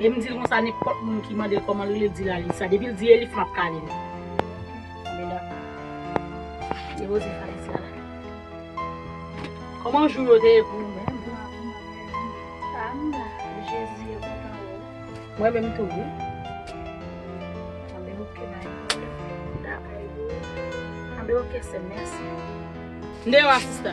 Lè m di l konsa nenpòt moun ki mande l kòman l rele l di l Alisa. Depi l di Elif m ap kale l. Kòman jou yo te ye pou ou menm? Mwen menm tou wi. Mwen deyo a sista.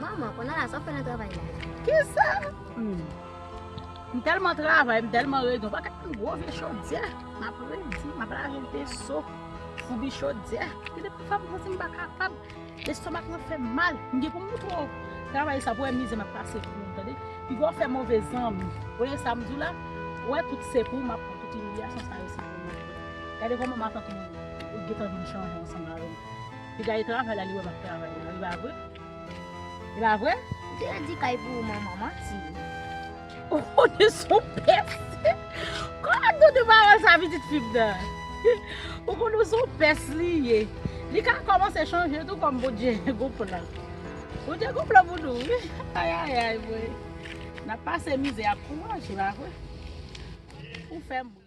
Manman, konn ala sa wap fè nan travay la. Kisa? M telman travay, m telman redi, w pa ka konn gwo vye chodyè. M ap redi, m ap lave veso, foubi chodyè. Gen de fwa m santi m pa kapab, lestomak mwen fè m mal. M gen pou m montre w travay sa pou w wè mize m ap pase pou ou tande. Pi gwo afè move zanmi. Ou wè sa m di w la? Ou wè tout se pou ou m ap pran, tout imilyasyon sa yo se pou ou m ap pran. Gade kòman matant ou gentan vin chanje ansanm avè m. Ti Gaye travay la li wè map travay la epa vre? Epa vre? Ou te redi kay pou ou manman manti. Ohh de son pès. Kòman nou di pawòl sa pitit fi m nan. Ou konn ou son pès li ye. Li ka kòmanse chanje tou kòm Bondye gon plan. Bondye gon plan pou nou wi. Ayayay mwen. Nap pase mizè ak kouraj epa vre. Ou fèm ri.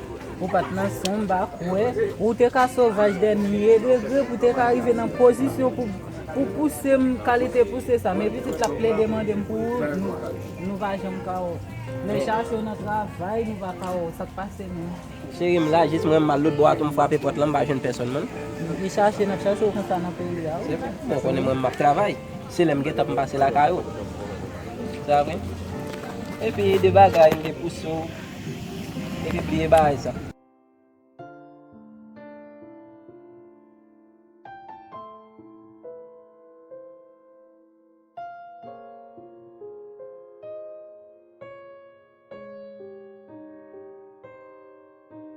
Ou pat nan son m pa kwè. Ou te ka sovaj dè milye degre pou te ka rive nan pozisyon pou pou pouse m kalite pouse sa men pitit la plede mande m pou ou nou pa janm ka wè w lè chache w nan travay nou pa ka wè w sak pase menm. Cheri m la jis mwen mal lotbo a tou m frape pòt lan m pa jwenn pèsòn menm. Depi chache n ap chache w konsa nan peyi a wi. Ou konnen mwen m ap travay se lè m gentan pou m pase lakay ou sa vre epi de bagay m te pouse w. Epi bliye baay sa.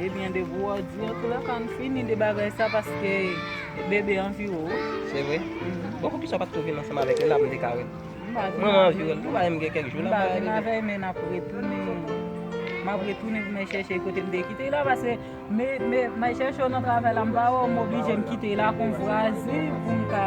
Ebyen de gwo òdi antoula ka ann fini de bagay sa paske bebe anvi wè w. Se vre? Bon poukisa w pat tou vin ansanm avèk li la pou m te ka wè l? Mwen mwen anvi wè l tou bagay m gen kèk jou la. M pa vin avè l men n ap retounen. M ap retounen pou m al chèche l kote m te kite l la paske m al chèche w nan travay la m pa wè w m oblije m kite l la kon vwazi pou m ka.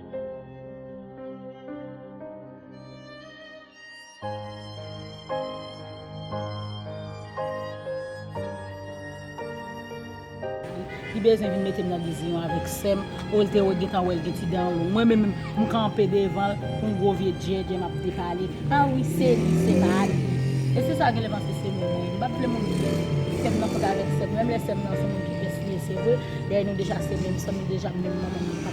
Li bezwen vin mete m nan diziyon avèk sè m, o l te wè gentan wè l gen ti dan an long. Mwen menm m kanpe devan l kou yon gwo vye djèdjè m ap depale. A wi se li, se pa li. E se sa w genlè panse se mwen menm. M pa t vle moun di sè m nan fòk avèk sè m. Menm lè sè m nan se moun ki fè si e se vre, dèyè nou deja se menm san, nou deja menm manman, menm papa.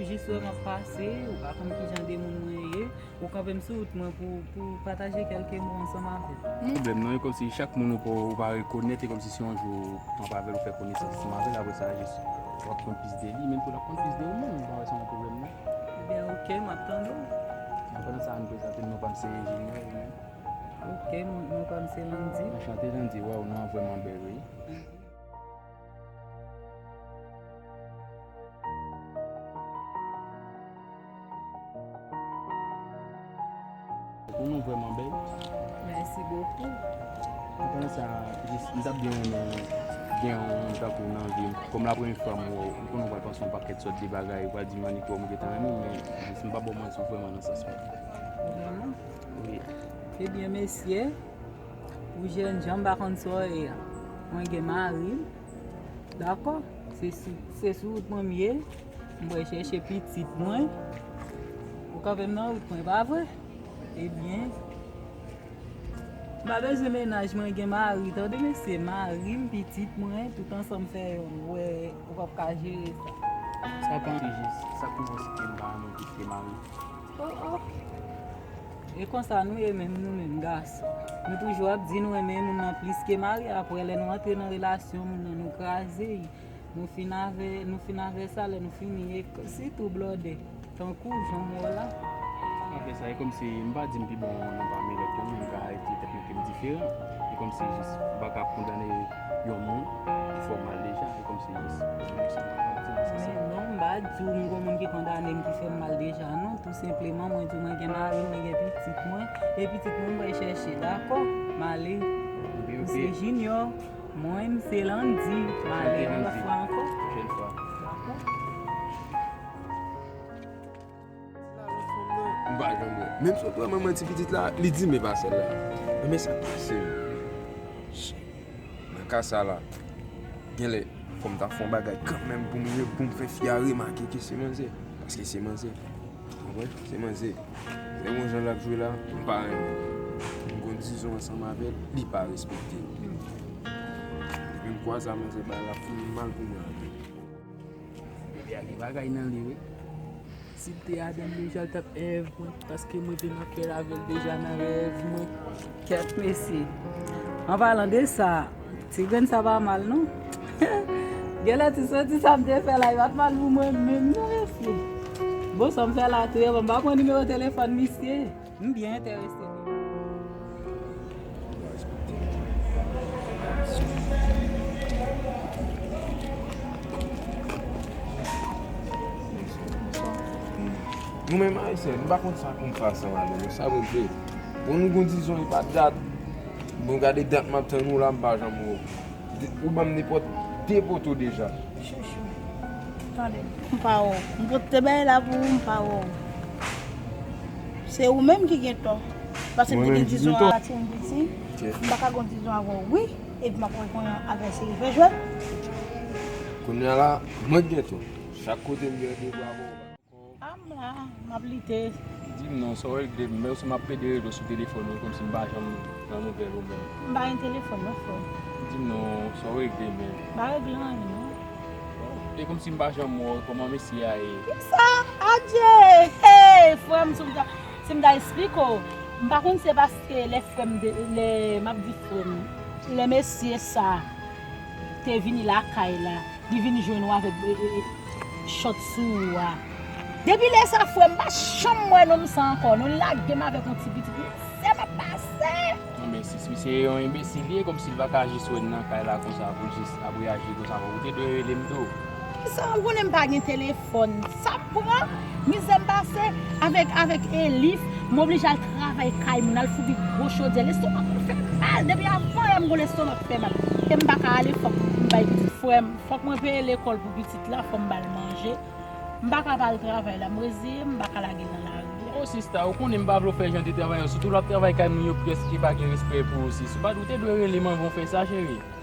Ou jis wè map pase, ou pa konn kijan de moun mwen ye, ou kanpe m sou wout mwen pou ou pataje kelke mo ansanm avè m. Mwen blèm nan, e kòmsi chak moun ou pa rekonèt, e kòmsi se yon jou ou kanpe avè l, ou fè konesans ansanm avè l, apre sa jis wap konn plis de li, menm tou lap konn plis de ou menm, m pa wè sa yon pwoblèm nan. Ebyen ok, map tande w. An padan sa ann prezante m, non pa m se Junior, ou menm? Ok, non pa m se Landy. Anchante Landy, waw non an vrèman bèl wi. Ou nou vreman bel. Merci beaucoup. Mwen konnen sa jis m tap byen renmen gen yon moun tankou w nan vi m. Kòm la premye fwa m wè w, m konnen w pral panse yon pakèt sòt de bagay, ou pral di m annik wè w m gentan renmen w men jis m pa ba w manti ou vreman nan sans mwen. Vreman? Wi. Ebyen mesi. Pou jènjan m pa konn sa w ye a. Mwen gen mari m. Dakò? Se sou wout mwen m ye. M wè chèche pitit mwen. Ou kanpe m nan wout mwen, pa vre? Ebyen, m pa bezwen menaj mwen gen mari. Tande mesye, mari m, pitit mwen, tout ansanm fè youn. Ou wè ou pap ka jere sa. Sa pa jis. Sa koumanse fè m pa renmen pitit e mari. O o! E konsa nou ye menm nou menm gason nou toujou ap di nou renmen moun nan plis ke mari aprè lè nou antre nan relasyon moun nan nou kraze y nou fin avè nou fin avè sa lè nou fini e sitou blòdè tankou jan m wè w la. Aprè sa e kòmsi m pa di m pi bon nan pami lòt yo men m ka di tèt mwen ke m diferan e kòmsi jis m pa ka ap kondane yon moun ki fè w mal deja e kòmsi jis m pa ka ap di m se sa. Men non m pa di w m gon moun ki kondane m ki fè m mal deja non. Senpleman mwen di w mwen gen mari m, mwen gen pitit mwen, e pitit mwen mwen chèche dakò, m ale. M se jinyò, mwen m se landy, m ale yon lòt fwa ankò. M pa janm wè. Menm si yo pran manman ti pitit la, li di m e pa sèl la. Enben sa k pase yo? Nan ka sa la, genlè fò m ta fè yon bagay kanmenm pou m pou m fè fi a remake ke se manzè. Paske se manzè. Ou konprann? Se manzè. Lè gon jan l ap jwe la, m pa renmen l. M konn dizon ansanm avè l, li pa respekte m. Depi m kwaze a manzè bay l ap fè m mal pou mwen anpil. Te a gen bagay nan li wi. Si te a gen li jal tap ev mwen. Paske mwen te nan kè lavel deja nan rev mwen. Kèt mesi. An palan de sa, ti gren sa pa mal non. Gen lè ti soti sa m te fè la, li pat mal pou mwen menm non mesi. Bon sa m fè la tou e bon, m pa pran nimewo telefòn misye. M byen entèrese wi. Nou menm ayisyen nou pa konn sa pou nou fè ak sa malè nou sa pou nou fè pou nou gen yon dizon epa dat bon gade dat map tann ou la m pa janm wè w. Ou banm nenpòt 2 poto deja. Chouchou. Tande. M pa wè w. M pot te bay la pou ou m pa wè w. Se ou menm ki gen tò. Paske m te gen dizon a pati m piti. M pa ka gon dizon avè w wi. Epi m ap wè kounye an aprè se efè jwèt. Kounye a la mwen k gen tò. Chak kote m gade bravo. Am la map lite. Dim non sa w regle m menm si map pede regle w sou telefòn ou komsi m pa janm pran nouvèl ou menm. M pa gen telefòn non frè m. Dim non sa w regle menm. M pa regle anyen non. E komsi m pa janm wè w kòman mesye a ye. Kisa? Adye! Hey frè m si m ta esplike w. M pa konn se paske lè frè m lè map di frè m lè mesye sa te vini lakay la. Li vin jwenn ou avèk chòt sou ou a. Depi lè sa frè m pa janm wè nonm sa ankò non. Li lage m avèk yon ti pitit li se m ap pase. Nan men sis misye se yon enbesil li ye kòmsi li pa ka jis wè n nan kay la konsa pou l jis ap reyaji konsa. Ou te dwe rele m tou. Kisa ou konnen m pa gen telefòn. Fòn sa pran mizè m pase avèk avèk Elif m oblije al travay kay moun al foubi gwo chodyè lestomak mwen fè mal depi avan lè m gwo lestomak fè mal e m paka ale fòk m bay pitit frè m fòk mwen peye lekòl pou pitit la fòm bal manje m paka pa al travay la m reziye m m paka lage l nan lari a. Oh sista ou konnen m pa vle w fè jan de travay yo sitou lap travay kay moun yo prèske pa gen respè pou ou sis ou pat ou te dwe rele m anvan w fè sa cheri.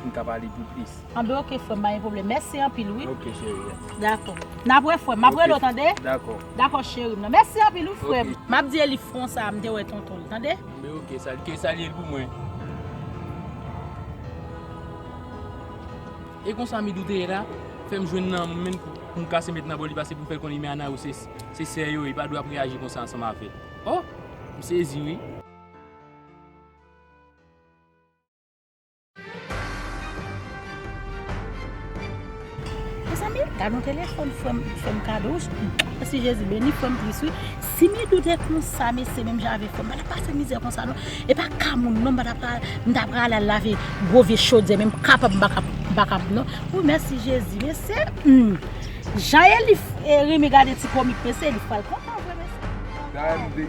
Pou n ka pale pi plis. An be ok frèm pa gen pwoblèm mèsi anpil wi. Ok cherie. Dakò. Nap wè frèm. Map rele w tande. Dakò. Dakò cherim nan. Mèsi anpil wi frèm. Ok. Map di Elif fon sa a m te wè tonton l tande. An be ok sal ke salye l pou mwen. E konsa Midou te ye la? Fèm jwenn nan mwen menm pou m kase met nan bòl li pase pou m fè l konnen men Ana yo se sè yo li pa dwe ap reyaji konsa ansanm avè l. Oh! M sezi wi. Mezanmi gad yon telefòn frèm fèm kado mèsi jezi beni frèm plis wi si Midou te konsa mesye menm jan avèk frèm pa tap pase mizè konsa non e pa ka moun non m ta pral al lave gwo vye chodyè menm kapab m pa kapab non wi mèsi jezi mesye humm jan Elif renmen gade ti komik mesye Elif pral kontan vre mesye.